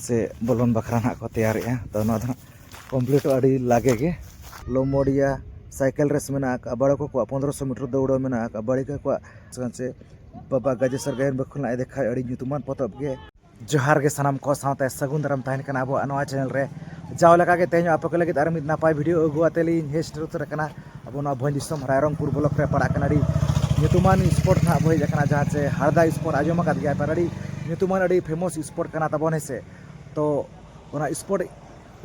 ᱥᱮ ᱵᱚᱞᱚᱱ ᱵᱟᱠᱷᱨᱟ ᱱᱟᱜ ᱠᱚ ᱛᱮᱭᱟᱨᱮᱜᱼᱟ ᱛᱚ ᱱᱚᱣᱟ ᱫᱚ ᱱᱟᱜ ᱠᱚᱢᱯᱞᱤᱴᱚᱜᱼᱟ ᱟᱹᱰᱤ ᱞᱟᱜᱮ ᱜᱮ ᱞᱚᱢᱚᱰᱤᱭᱟ ᱥᱟᱭᱠᱮᱞ ᱨᱮᱥ ᱢᱮᱱᱟᱜ ᱟᱠᱟᱫᱼᱟ ᱵᱟᱲᱚᱠᱚ ᱠᱚᱣᱟᱜ ᱯᱚᱱᱨᱚᱥᱚ ᱢᱤᱴᱟᱨ ᱫᱟᱹᱣᱲᱟᱹ ᱢᱮᱱᱟᱜ ᱟᱠᱟᱫᱼᱟ ᱵᱟᱲᱤᱠᱟ ᱠᱚᱣᱟᱜ ᱥᱮ ᱵᱟᱵᱟ ᱜᱟᱡᱮᱥᱚᱨ ᱜᱟᱭᱟᱱ ᱵᱟᱹᱠᱷᱩᱞ ᱟᱡ ᱫᱮᱠᱷᱟᱣ ᱟᱹᱰᱤ ᱧᱩᱛᱩᱢᱟᱱ ᱯᱚᱛᱚᱵ ᱜᱮ ᱡᱚᱦᱟᱨ ᱜᱮ ᱥᱟᱱᱟᱢ ᱠᱚ ᱥᱟᱶᱛᱮ ᱥᱟᱹᱜᱩᱱ ᱫᱟᱨᱟᱢ ᱛᱟᱦᱮᱱ ᱠᱟᱱᱟ ᱟᱵᱚᱣᱟᱜ ᱱᱚᱣᱟ ᱪᱮᱱᱮᱞ ᱨᱮ ᱡᱟᱣ ᱞᱮᱠᱟ ᱜᱮ ᱛᱮᱦᱮᱧ ᱟᱯᱮ ᱠᱚ ᱞᱟᱹᱜᱤᱫ ᱟᱨ ᱢᱤᱫ ᱱᱟᱯᱟᱭ ᱵᱷᱤᱰᱤᱭᱳ ᱟᱹᱜᱩ ᱟᱛᱮ ᱞᱤᱧ ᱦᱮᱡ ᱥᱮᱴᱮᱨ ᱩᱛᱟᱹᱨ ᱟᱠᱟᱱᱟ ᱟᱵᱚ ᱱᱚᱣᱟ ᱵᱷᱚᱸᱡᱽ ᱫᱤᱥᱚᱢ ᱨᱟᱭᱨᱚᱝᱯᱩᱨ ᱵᱞᱚᱠ ᱨᱮ ᱯᱟᱲᱟᱜ ᱠᱟᱱᱟ ᱟᱹᱰᱤ ᱧᱩᱛᱩᱢᱟᱱ ᱥᱯᱚᱴ ᱱᱟᱦᱟᱜ ᱵᱚ ᱦᱮᱡ ᱟᱠᱟᱱᱟ ᱡᱟᱦᱟᱸ ᱪᱮ ᱦᱟᱨᱫᱟ ᱥᱯᱚᱴ ᱟᱸᱡᱚᱢ ᱟᱠᱟᱫ ᱜᱮᱭᱟ ᱯᱮ ᱟᱹᱰᱤ ᱧᱩᱛᱩᱢᱟᱱ ᱟᱹᱰᱤ ᱯᱷᱮᱢᱚᱥ ᱥᱯᱚᱴ ᱠᱟᱱᱟ ᱛᱟᱵᱚᱱ ᱦᱮᱸ ᱥᱮ ᱛᱚ ᱚᱱᱟ ᱥᱯᱚᱴ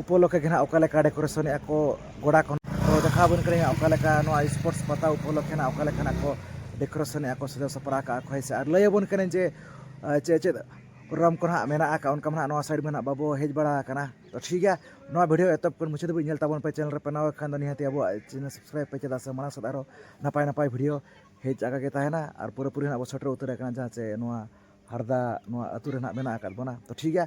ᱩᱯᱚᱞᱚᱠᱠᱷᱮ ᱜᱮ ᱱᱟᱦᱟᱜ ᱚᱠᱟ ᱞᱮᱠᱟ ᱰᱮᱠᱳᱨᱮᱥᱚᱱ ᱮᱫᱟ ᱠᱚ ᱜᱚᱰᱟ ᱠᱚ ᱛᱚ ᱫᱮᱠᱷᱟᱣ ᱟᱵᱚᱱ ᱠᱟᱹᱱᱟᱹᱧ ᱚᱠᱟ ᱞᱮᱠᱟ ᱱᱚᱣᱟ ᱥᱯᱳᱨᱴᱥ ᱯᱟᱛᱟ ᱩᱯᱚᱞᱚᱠᱠᱷᱮ ᱱᱟᱦᱟᱜ ᱚᱠᱟ ᱞᱮᱠᱟᱱᱟᱜ ᱠᱚ ᱰᱮᱠᱳᱨᱮᱥᱚᱱ ᱮᱫᱟ ᱠᱚ ᱥᱟᱡᱟᱣ ᱥᱟᱯᱲᱟᱣ ᱠᱟᱜᱼᱟ ᱠᱚ ᱦᱮᱸ ᱥᱮ ᱟᱨ ᱞᱟᱹᱭ ᱟᱵᱚᱱ ᱠᱟᱹᱱᱟᱹᱧ ᱡᱮ ᱪᱮᱫ ᱪᱮᱫ ᱯᱨᱳᱜᱨᱟᱢ ᱠᱚ ᱦᱟᱸᱜ ᱢᱮᱱᱟᱜ ᱟᱠᱟᱫᱼᱟ ᱚᱱᱠᱟ ᱢᱟ ᱦᱟᱸᱜ ᱱᱚᱣᱟ ᱥᱟᱭᱤᱰ ᱢᱟ ᱦᱟᱸᱜ ᱵᱟᱵᱚ ᱦᱮᱡ ᱵᱟᱲᱟ ᱟᱠᱟᱱᱟ ᱛᱳ ᱴᱷᱤᱠ ᱜᱮᱭᱟ ᱱᱚᱣᱟ ᱵᱷᱤᱰᱭᱳ ᱮᱛᱚᱦᱚᱵ ᱠᱷᱚᱱ ᱢᱩᱪᱟᱹᱫ ᱫᱷᱟᱹᱵᱤᱡ ᱧᱮᱞ ᱛᱟᱵᱚᱱ ᱯᱮ ᱪᱮᱱᱮᱞ ᱨᱮ ᱯᱮ ᱱᱟᱣᱟ ᱠᱷᱟᱱ ᱫᱚ ᱱᱤᱦᱟᱹᱛᱤ ᱟᱵᱚᱣᱟᱜ ᱪᱮᱱᱮᱞ ᱥᱟᱵᱥᱠᱨᱟᱭᱤᱵᱽ ᱯᱮ ᱪᱮᱫᱟᱜ ᱥᱮ ᱢᱟᱲᱟᱝ ᱥᱮᱫ ᱟᱨᱚ ᱱᱟᱯᱟᱭ ᱱᱟᱯᱟᱭ ᱵᱷᱤᱰᱭᱳ ᱦᱮᱡ ᱟᱠᱟ ᱜᱮ ᱛᱟᱦᱮᱱᱟ ᱟᱨ ᱯᱩᱨᱟᱹᱯᱩᱨᱤ ᱦᱟᱸᱜ ᱵᱚᱱ ᱥᱮᱴᱮᱨ ᱩᱛᱟᱹᱨ ᱟᱠᱟᱱᱟ ᱡᱟᱦᱟᱸ ᱪᱮ ᱱᱚᱣᱟ ᱦᱟᱨᱫᱟ ᱱᱚᱣᱟ ᱟᱹᱛᱩ ᱨᱮ ᱦᱟᱸᱜ ᱢᱮᱱᱟᱜ ᱟᱠᱟᱫ ᱵᱚᱱᱟ ᱛᱳ ᱴᱷᱤᱠ ᱜᱮᱭᱟ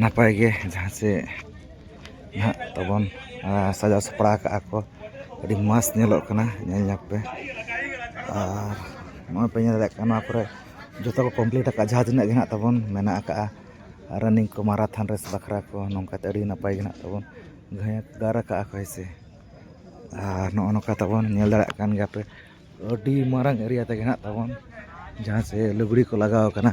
ᱱᱟᱯᱟᱭ ᱜᱮ ᱡᱟᱦᱟᱸ ᱥᱮ ᱱᱟᱦᱟᱜ ᱛᱟᱵᱚᱱ ᱥᱟᱡᱟᱣ ᱥᱟᱯᱲᱟᱣ ᱠᱟᱜᱼᱟ ᱠᱚ ᱟᱹᱰᱤ ᱢᱚᱡᱽ ᱧᱮᱞᱚᱜ ᱠᱟᱱᱟ ᱧᱮᱞ ᱧᱚᱜᱽ ᱯᱮ ᱟᱨ ᱱᱚᱜᱼᱚᱭ ᱯᱮ ᱧᱮᱞ ᱫᱟᱲᱮᱭᱟᱜ ᱠᱟᱱᱟ ᱱᱚᱣᱟ ᱠᱚᱨᱮᱜ ᱡᱚᱛᱚ ᱠᱚ ᱠᱚᱢᱯᱤᱞᱤᱴ ᱠᱟᱜᱼᱟ ᱡᱟᱦᱟᱸ ᱛᱤᱱᱟᱹᱜ ᱜᱮ ᱦᱟᱸᱜ ᱛᱟᱵᱚᱱ ᱢᱮᱱᱟᱜ ᱠᱟᱜᱼᱟ ᱨᱟᱱᱤᱝ ᱠᱚ ᱢᱟᱨᱟᱛᱷᱚᱱ ᱨᱮᱥ ᱵᱟᱠᱷᱨᱟ ᱠᱚ ᱱᱚᱝᱠᱟᱛᱮ ᱟᱹᱰᱤ ᱱᱟᱯᱟᱭ ᱜᱮ ᱦᱟᱸᱜ ᱛᱟᱵᱚᱱ ᱜᱟᱨ ᱠᱟᱜᱼᱟ ᱠᱚ ᱦᱮᱸ ᱥᱮ ᱟᱨ ᱱᱚᱜᱼᱚ ᱱᱚᱝᱠᱟ ᱛᱟᱵᱚᱱ ᱧᱮᱞ ᱫᱟᱲᱮᱭᱟᱜ ᱠᱟᱱ ᱜᱮᱭᱟᱯᱮ ᱟᱹᱰᱤ ᱢᱟᱨᱟᱝ ᱮᱨᱤᱭᱟ ᱛᱮᱜᱮ ᱦᱮᱱᱟᱜ ᱛᱟᱵᱚᱱ ᱡᱟᱦᱟᱸ ᱥᱮ ᱞᱩᱜᱽᱲᱤ ᱠᱚ ᱞᱟᱜᱟᱣ ᱠᱟᱱᱟ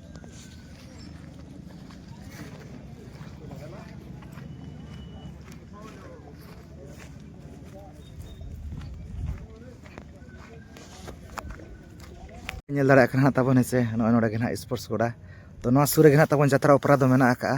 ᱧᱮᱞ ᱫᱟᱲᱮᱭᱟᱜ ᱠᱟᱱᱟ ᱛᱟᱵᱚᱱ ᱦᱮᱸᱥᱮ ᱱᱚᱜᱼᱚᱭ ᱱᱚᱰᱮ ᱜᱮ ᱦᱟᱸᱜ ᱥᱯᱳᱨᱴᱥ ᱜᱚᱰᱟ ᱛᱚ ᱱᱚᱣᱟ ᱥᱩᱨ ᱨᱮᱜᱮ ᱦᱟᱸᱜ ᱛᱟᱵᱚᱱ ᱡᱟᱛᱨᱟ ᱚᱯᱮᱨᱟ ᱫᱚ ᱢᱮᱱᱟᱜ ᱟᱠᱟᱫᱼᱟ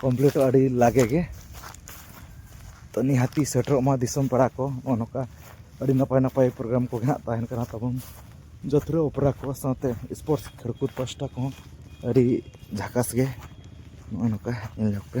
ᱠᱚᱢᱯᱞᱤᱴᱚᱜᱼᱟ ᱟᱹᱰᱤ ᱞᱟᱜᱮ ᱜᱮ ᱛᱚ ᱱᱤᱦᱟᱹᱛᱤ ᱥᱮᱴᱮᱨᱚᱜ ᱢᱟ ᱫᱤᱥᱚᱢ ᱯᱮᱲᱟ ᱠᱚ ᱱᱚᱜᱼᱚ ᱱᱚᱝᱠᱟ ᱟᱹᱰᱤ ᱱᱟᱯᱟᱭ ᱱᱟᱯᱟᱭ ᱯᱨᱳᱜᱨᱟᱢ ᱠᱚᱜᱮ ᱦᱟᱸᱜ ᱛᱟᱦᱮᱱ ᱠᱟᱱᱟ ᱛᱟᱵᱚᱱ ᱡᱟᱹᱛᱨᱟᱹ ᱚᱯᱮᱨᱟ ᱠᱚ ᱥᱟᱶᱛᱮ ᱥᱯᱳᱨᱴᱥ ᱠᱷᱮᱞ ᱠᱚ ᱯᱟᱥᱴᱟ ᱠᱚᱦᱚᱸ ᱟᱹᱰᱤ ᱡᱷᱟᱠᱟᱥ ᱜᱮ ᱱᱚᱜᱼᱚ ᱱᱚᱝᱠᱟ ᱧᱮᱞ ᱧᱚᱜ ᱯᱮ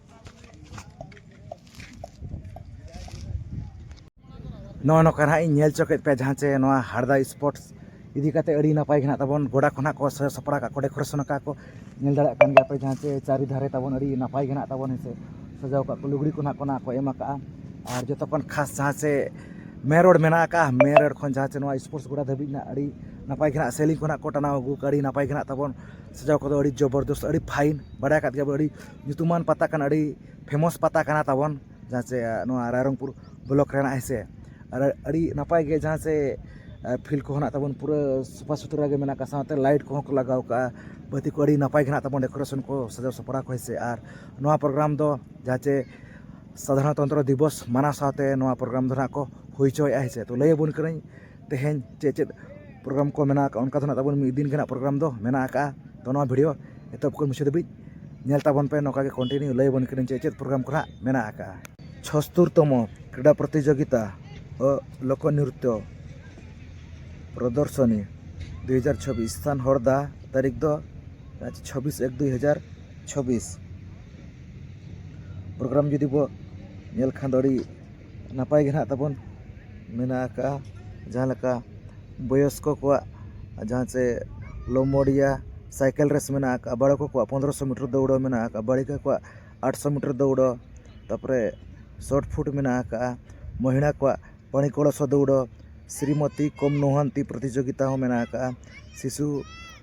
ᱱᱚᱜᱼᱚ ᱱᱚᱝᱠᱟ ᱱᱟᱦᱟᱜ ᱤᱧ ᱧᱮᱞ ᱦᱚᱪᱚ ᱠᱮᱫ ᱯᱮᱭᱟ ᱡᱟᱦᱟᱸ ᱪᱮ ᱱᱚᱣᱟ ᱦᱟᱨᱫᱟ ᱥᱯᱳᱨᱴᱥ ᱤᱫᱤ ᱠᱟᱛᱮ ᱟᱹᱰᱤ ᱱᱟᱯᱟᱭ ᱜᱮ ᱱᱟᱦᱟᱜ ᱛᱟᱵᱚᱱ ᱜᱚᱰᱟ ᱠᱚ ᱱᱟᱦᱟᱜ ᱠᱚ ᱥᱟᱡᱟᱣ ᱥᱟᱯᱲᱟᱣ ᱠᱟᱜ ᱠᱚᱣᱟ ᱰᱮᱠᱳᱨᱮᱥᱚᱱ ᱠᱟᱜᱼᱟ ᱠᱚ ᱧᱮᱞ ᱫᱟᱲᱮᱭᱟᱜ ᱠᱟᱱ ᱜᱮᱭᱟ ᱯᱮ ᱡᱟᱦᱟᱸ ᱪᱮ ᱪᱟᱹᱨᱤ ᱫᱷᱟᱨᱮ ᱛᱟᱵᱚᱱ ᱟᱹᱰᱤ ᱱᱟᱯᱟᱭ ᱜᱮ ᱱᱟᱦᱟᱜ ᱛᱟᱵᱚᱱ ᱦᱮᱸ ᱥᱮ ᱥᱟᱡᱟᱣ ᱠᱟᱜ ᱠᱚ ᱞᱩᱜᱽᱲᱤ ᱠᱚ ᱱᱟᱦᱟᱜ ᱠᱚ ᱱᱟᱦᱟᱜ ᱠᱚ ᱮᱢ ᱠᱟᱜᱼᱟ ᱟᱨ ᱡᱚᱛᱚ ᱠᱷᱚᱱ ᱠᱷᱟᱥ ᱡᱟᱦᱟᱸ ᱪᱮ ᱢᱮᱱ ᱨᱳᱰ ᱢᱮᱱᱟᱜ ᱠᱟᱜᱼᱟ ᱢᱮᱱ ᱨᱳᱰ ᱠᱷᱚᱱ ᱡᱟᱦᱟᱸ ᱪᱮ ᱱᱚᱣᱟ ᱥᱯᱳᱨᱴᱥ ᱜᱚᱰᱟ ᱫᱷᱟᱹᱵᱤᱡ ᱱᱟᱦᱟᱜ ᱟᱹᱰᱤ ᱱᱟᱯᱟᱭ ᱜᱮ ᱱᱟᱦᱟᱜ ᱥᱮᱞᱤᱝ ᱠᱚ ᱱᱟᱦᱟᱜ ᱠᱚ ᱴᱟᱱᱟᱣ ᱟᱹᱜᱩ ᱠᱟᱜᱼᱟ ᱟᱹᱰᱤ ᱱᱟᱯᱟᱭ ᱜᱮ ᱱᱟᱦᱟᱜ ᱛᱟᱵᱚᱱ ᱥᱟᱡᱟᱣ ᱠᱚᱫᱚ ᱟᱹᱰᱤ ᱡᱚᱵᱚᱨᱫᱚᱥᱛ ᱟᱹᱰᱤ ᱯᱷᱟᱭᱤᱱ ᱵᱟᱰᱟᱭ ᱠᱟᱜ ᱜᱮᱭᱟ ᱵᱚᱱ ᱟᱹᱰᱤ ᱧᱩᱛᱩᱢᱟᱱ ᱯᱟᱛᱟ ᱠᱟᱱᱟ ᱟᱹᱰᱤ ᱯᱷᱮᱢᱟᱥ ᱯᱟᱛᱟ ᱠᱟᱱᱟ ᱛᱟᱵᱚᱱ ᱡᱟᱦᱟᱸ ᱪᱮ ᱱᱚᱣᱟ ᱨᱟᱭᱨᱚᱝᱯᱩᱨ ᱵᱞᱚᱠ ᱨᱮᱱᱟᱜ ᱦᱮᱸ ᱥᱮ ᱟᱨ ᱟᱹᱰᱤ ᱱᱟᱯᱟᱭ ᱜᱮ ᱡᱟᱦᱟᱸ ᱪᱮ ᱯᱷᱤᱞᱰ ᱠᱚ ᱦᱮᱱᱟᱜ ᱛᱟᱵᱚᱱ ᱯᱩᱨᱟᱹ ᱥᱟᱯᱷᱟ ᱥᱩᱛᱨᱟᱹ ᱜᱮ ᱢᱮᱱᱟᱜ ᱟᱠᱟᱫ ᱥᱟᱶᱛᱮ ᱞᱟᱭᱤᱴ ᱠᱚᱦᱚᱸ ᱠᱚ ᱞᱟᱜᱟᱣ ᱠᱟᱜᱼᱟ ᱵᱟᱹᱛᱤ ᱠᱚ ᱟᱹᱰᱤ ᱱᱟᱯᱟᱭ ᱜᱮ ᱦᱮᱱᱟᱜ ᱛᱟᱵᱚᱱᱟ ᱰᱮᱠᱳᱨᱮᱥᱚᱱ ᱠᱚ ᱥᱟᱡᱟᱣ ᱥᱟᱯᱲᱟᱣ ᱠᱚ ᱦᱮᱸ ᱥᱮ ᱟᱨ ᱱᱚᱣᱟ ᱯᱨᱳᱜᱨᱟᱢ ᱫᱚ ᱡᱟᱦᱟᱸ ᱪᱮ ᱥᱟᱫᱷᱟᱨᱚᱱᱛᱚᱱᱛᱨᱚ ᱫᱤᱵᱚᱥ ᱢᱟᱱᱟᱣ ᱥᱟᱶᱛᱮ ᱱᱚᱣᱟ ᱯᱨᱳᱜᱨᱟᱢ ᱫᱚ ᱦᱟᱸᱜ ᱠᱚ ᱦᱩᱭ ᱦᱚᱪᱚᱭᱮᱜᱼᱟ ᱦᱮᱸ ᱥᱮ ᱛᱚ ᱞᱟᱹᱭ ᱟᱵᱚᱱ ᱠᱟᱹᱱᱟᱹᱧ ᱛᱮᱦᱮᱧ ᱪᱮᱫ ᱪᱮᱫ ᱯᱨᱳᱜᱨᱟᱢ ᱠᱚ ᱢᱮᱱᱟᱜ ᱟᱠᱟᱫᱼᱟ ᱚᱱᱠᱟ ᱫᱚ ᱱᱟᱜ ᱛᱟᱵᱚᱱ ᱢᱤᱫ ᱫᱤᱱ ᱜᱮ ᱱᱟᱜ ᱯᱨᱳᱜᱨᱟᱢ ᱫᱚ ᱢᱮᱱᱟᱜ ᱟᱠᱟᱫᱼᱟ ᱛᱚ ᱱᱚᱣᱟ ᱵᱷᱤᱰᱭᱳ ᱮᱛᱚᱦᱚᱵ ᱠᱷᱚᱱ ᱢᱩᱪᱟᱹᱫ ᱫᱷᱟᱹᱵᱤᱡ ᱧᱮᱞ ᱛᱟᱵᱚᱱ ᱯᱮ ᱱᱚᱝᱠᱟ ᱜᱮ ᱠᱚᱱᱴᱤᱱᱤᱭᱩ ᱞᱟᱹᱭ ᱟᱵᱚᱱ ᱠᱟᱹᱱᱟᱹᱧ ᱪᱮᱫ ᱪᱮᱫ ᱯᱨᱳᱜᱨᱟᱢ ᱠᱚ ᱱᱟᱜ ᱢᱮᱱᱟᱜ ᱟᱠᱟᱫᱼᱟ ᱪᱷᱚᱥᱛᱳᱨ ᱛᱚᱢᱚ ᱠᱨᱤᱰᱟ ᱯᱨᱚᱛᱤᱡᱳᱜᱤᱛᱟ ᱞᱳᱠᱚ ᱱᱨᱤᱛᱛᱚ ᱯᱨᱚᱫᱚᱨᱥᱚᱱᱤ ᱫᱩ ᱦᱟᱡᱟᱨ ᱪᱷᱚᱵᱵᱤᱥ ᱥᱛᱷᱟᱱ ᱦᱚᱲᱫᱟ ᱛᱟᱹᱨᱤᱠᱷ ᱫᱚ ᱪᱷᱚᱵᱵᱤᱥ ᱮᱠ ᱫᱩ ᱦᱟᱡᱟᱨ ᱪᱷᱚᱵᱵᱤᱥ ᱯᱨᱳᱜᱨᱟᱢ ᱡᱩᱫᱤ ᱵᱚ ᱧᱮᱞ ᱠᱷᱟᱱ ᱫᱚ ᱟᱹᱰᱤ ᱱᱟᱯᱟᱭ ᱜᱮ ᱱᱟᱦᱟᱜ ᱛᱟᱵᱚᱱ ᱢᱮᱱᱟᱜ ᱟᱠᱟᱫᱼᱟ ᱡᱟᱦᱟᱸ ᱞᱮᱠᱟ ᱵᱚᱭᱚᱥᱠᱚ ᱠᱚᱣᱟᱜ ᱡᱟᱦᱟᱸ ᱪᱮ ᱞᱚᱢᱵᱚᱰᱤᱭᱟ ᱥᱟᱭᱠᱮᱞ ᱨᱮᱥ ᱢᱮᱱᱟᱜ ᱟᱠᱟᱫᱼᱟ ᱵᱟᱲᱮ ᱠᱚ ᱠᱚᱣᱟᱜ ᱯᱚᱱᱨᱚ ᱥᱚ ᱢᱤᱴᱚᱨ ᱫᱟᱹᱲᱟᱹ ᱢᱮᱱᱟᱜ ᱟᱠᱟᱫᱼᱟ ᱵᱟᱹᱲᱤᱠᱟ ᱠᱚᱣᱟᱜ ᱟᱴᱥᱚ ᱢᱤᱴᱚᱨ ᱫᱟᱹᱣᱲᱟᱹ ᱛᱟᱨᱯᱚᱨᱮ ᱥᱚᱴ ᱯᱷᱩᱴ ᱢᱮᱱᱟᱜ ᱟᱠᱟᱫᱼᱟ ᱢᱚᱦᱤᱞᱟ ᱠᱚᱣᱟᱜ ᱯᱟᱹᱲᱤ ᱠᱚᱲᱟᱥᱚ ᱫᱟᱹᱣᱲᱟᱹ ᱥᱨᱤᱢᱚᱛᱤ ᱠᱚᱢ ᱱᱚᱦᱚᱱᱛᱤ ᱯᱨᱚᱛᱤᱡᱳᱜᱤᱛᱟ ᱦᱚᱸ ᱢᱮᱱᱟᱜ ᱟᱠᱟᱫᱼᱟ ᱥᱤᱥᱩ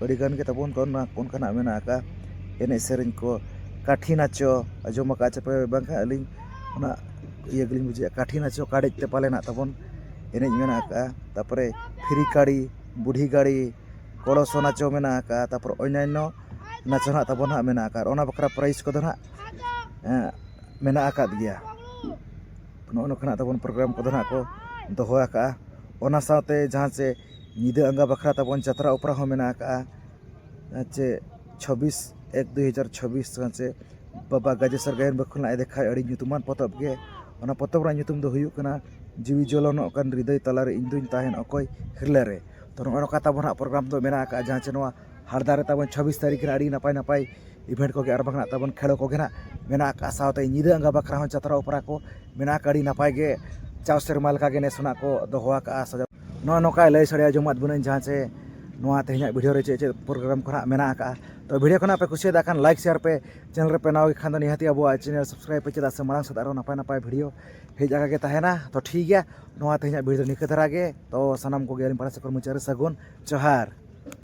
ᱟᱹᱰᱤ ᱜᱟᱱ ᱜᱮ ᱛᱟᱵᱚᱱ ᱚᱱᱠᱟᱱᱟᱜ ᱢᱮᱱᱟᱜ ᱟᱠᱟᱫᱼᱟ ᱮᱱᱮᱡ ᱥᱮᱨᱮᱧ ᱠᱚ ᱠᱟᱹᱴᱷᱤ ᱱᱟᱪᱚ ᱟᱸᱡᱚᱢ ᱟᱠᱟᱫ ᱪᱚᱯᱮ ᱵᱟᱝᱠᱷᱟᱱ ᱟᱹᱞᱤᱧ ᱚᱱᱟ ᱤᱭᱟᱹ ᱜᱮᱞᱤᱧ ᱵᱩᱡᱮᱫᱼᱟ ᱠᱟᱹᱴᱷᱤ ᱱᱟᱪᱚ ᱠᱟᱲᱮᱡ ᱛᱮ ᱯᱟᱞᱮ ᱢᱮᱱᱟᱜ ᱛᱟᱵᱚᱱ ᱮᱱᱮᱡ ᱢᱮᱱᱟᱜ ᱟᱠᱟᱫᱼᱟ ᱛᱟᱨᱯᱚᱨᱮ ᱯᱷᱤᱨᱤ ᱠᱟᱹᱲᱤ ᱵᱩᱰᱷᱤ ᱜᱟᱹᱲᱤ ᱠᱚᱲᱚᱥᱚ ᱱᱟᱪᱚ ᱢᱮᱱᱟᱜ ᱟᱠᱟᱫᱼᱟ ᱛᱟᱨᱯᱚᱨᱮ ᱚᱱᱱᱟᱱᱱᱚ ᱱᱟᱪᱚ ᱦᱟᱸᱜ ᱛᱟᱵᱚᱱ ᱦᱟᱸᱜ ᱢᱮᱱᱟᱜ ᱟᱠᱟᱫᱼᱟ ᱚᱱᱟ ᱵᱟᱠᱷᱨᱟ ᱯᱨᱟᱭᱤᱡᱽ ᱠᱚᱫᱚ ᱦᱟᱸᱜ ᱢᱮᱱᱟᱜ ᱟᱠᱟᱫ ᱜᱮᱭᱟ ᱱᱚᱜᱼᱚ ᱱᱚᱝᱠᱟᱱᱟᱜ ᱛᱟᱵᱚᱱ ᱯᱨᱳᱜᱨᱟᱢ ᱠᱚᱫᱚ ᱦᱟᱸᱜ ᱠᱚ ᱫᱚᱦᱚ ᱟᱠᱟᱫᱼᱟ ᱚᱱᱟ ᱥᱟᱶᱛᱮ ᱡᱟᱦᱟᱸ ᱪᱮ ᱧᱤᱫᱟᱹ ᱟᱸᱜᱟ ᱵᱟᱠᱷᱨᱟ ᱛᱟᱵᱚᱱ ᱡᱟᱛᱨᱟ ᱚᱯᱮᱨᱟ ᱦᱚᱸ ᱢᱮᱱᱟᱜ ᱟᱠᱟᱜᱼᱟ ᱪᱮ ᱪᱷᱟᱵᱵᱤᱥ ᱮᱠ ᱫᱩ ᱦᱟᱡᱟᱨ ᱪᱷᱟᱵᱵᱤᱥ ᱪᱮ ᱵᱟᱵᱟ ᱜᱟᱡᱮᱥᱚᱨ ᱜᱟᱭᱟᱱ ᱵᱟᱠᱷᱳᱞ ᱟᱡ ᱫᱮᱠᱷᱟᱭ ᱟᱹᱰᱤ ᱧᱩᱛᱩᱢᱟᱱ ᱯᱚᱛᱚᱵ ᱜᱮ ᱚᱱᱟ ᱯᱚᱛᱚᱵ ᱨᱮᱭᱟᱜ ᱧᱩᱛᱩᱢ ᱫᱚ ᱦᱩᱭᱩᱜ ᱠᱟᱱᱟ ᱡᱤᱣᱤ ᱡᱚᱞᱚᱱᱚᱜ ᱠᱟᱱ ᱦᱨᱤᱫᱚᱭ ᱛᱟᱞᱟᱨᱮ ᱤᱧ ᱫᱩᱧ ᱛᱟᱦᱮᱱ ᱚᱠᱚᱭ ᱦᱤᱨᱞᱟᱹ ᱨᱮ ᱛᱚ ᱱᱚᱜᱼᱚᱭ ᱱᱚᱝᱠᱟ ᱛᱟᱵᱚᱱ ᱱᱟᱦᱟᱜ ᱯᱨᱳᱜᱨᱟᱢ ᱫᱚ ᱢᱮᱱᱟᱜ ᱟᱠᱟᱜᱼᱟ ᱡᱟᱦᱟᱸ ᱪᱮ ᱱᱚᱣᱟ ᱦᱟᱨᱫᱟ ᱨᱮ ᱛᱟᱵᱚᱱ ᱪᱷᱟᱵᱵᱤᱥ ᱛᱟᱹᱨᱤᱠᱷ ᱨᱮ ᱟᱹᱰᱤ ᱱᱟᱯᱟᱭ ᱱᱟᱯᱟᱭ ᱤᱵᱷᱮᱱᱴ ᱠᱚᱜᱮ ᱟᱨ ᱵᱟᱝ ᱱᱟᱦᱟᱜ ᱛᱟᱵᱚᱱ ᱠᱷᱮᱞᱳ ᱠᱚᱜᱮ ᱱᱟᱦᱟᱜ ᱢᱮᱱᱟᱜ ᱟᱠᱟᱜᱼᱟ ᱥᱟᱶᱛᱮ ᱧᱤᱫᱟᱹ ᱟᱸᱜᱟ ᱵᱟᱠᱷᱨᱟ ᱦᱚᱸ ᱡᱟᱛᱨᱟ ᱚᱯᱮᱨᱟ ᱠᱚ ᱢᱮᱱᱟᱜ ᱟᱠᱟᱜᱼᱟ ᱟᱹᱰᱤ ᱱᱟᱯᱟᱭ ᱜᱮ ᱡᱟᱣ ᱥᱮᱨᱢᱟ ᱞᱮᱠᱟᱜᱮ ᱱᱮᱥ ᱦᱚᱸ ᱱᱟᱦᱟᱜ ᱠᱚ ᱫᱚᱦᱚ ᱟᱠᱟᱜᱼᱟ ᱥᱟᱡᱟᱣ ᱱᱚᱜᱼᱚᱭ ᱱᱚᱝᱠᱟᱭ ᱞᱟᱹᱭ ᱥᱟᱰᱮ ᱟᱡᱚᱢᱟᱜ ᱵᱚᱱᱟᱹᱧ ᱡᱟᱦᱟᱸ ᱪᱮ ᱱᱚᱣᱟ ᱛᱮᱦᱮᱧᱟᱜ ᱵᱷᱤᱰᱤᱭᱳ ᱨᱮ ᱪᱮᱫ ᱪᱮᱫ ᱯᱨᱳᱜᱨᱟᱢ ᱠᱚ ᱦᱟᱸᱜ ᱢᱮᱱᱟᱜ ᱠᱟᱜᱼᱟ ᱛᱚ ᱵᱷᱤᱰᱤᱭᱳ ᱠᱚ ᱱᱟᱦᱟᱜ ᱯᱮ ᱠᱩᱥᱤᱭᱟᱫᱟ ᱠᱷᱟᱱ ᱞᱟᱭᱤᱠ ᱥᱮᱭᱟᱨ ᱯᱮ ᱪᱮᱱᱮᱞ ᱨᱮᱯᱮ ᱱᱟᱣᱟ ᱜᱮᱠᱷᱟᱱ ᱫᱚ ᱱᱤᱦᱟᱹᱛ ᱜᱮ ᱟᱵᱚᱣᱟᱜ ᱪᱮᱱᱮᱞ ᱥᱟᱵᱥᱠᱨᱟᱭᱤᱵᱽ ᱯᱮ ᱪᱮᱫᱟᱜ ᱥᱮ ᱢᱟᱲᱟᱝ ᱥᱮᱫ ᱟᱨᱚ ᱱᱟᱯᱟᱭ ᱱᱟᱯᱟᱭ ᱵᱷᱤᱰᱤᱭᱳ ᱦᱮᱡ ᱟᱠᱟ ᱜᱮ ᱛᱟᱦᱮᱱᱟ ᱛᱚ ᱴᱷᱤᱠ ᱜᱮᱭᱟ ᱱᱚᱣᱟ ᱛᱮᱦᱮᱧᱟᱜ ᱵᱷᱤᱰᱤᱭᱳ ᱫᱚ ᱱᱤᱝᱠᱟᱹ ᱫᱷᱟᱨᱟ ᱜᱮ ᱛᱚ ᱥᱟᱱᱟᱢ ᱠᱚᱜᱮ ᱟᱹᱞᱤᱧ ᱯᱟᱦᱴᱟ ᱥᱮᱫ ᱠᱷᱚᱱ ᱢᱩᱪᱟᱹᱫ ᱨᱮ ᱥᱟᱹᱜᱩᱱ ᱡᱚᱦᱟᱨ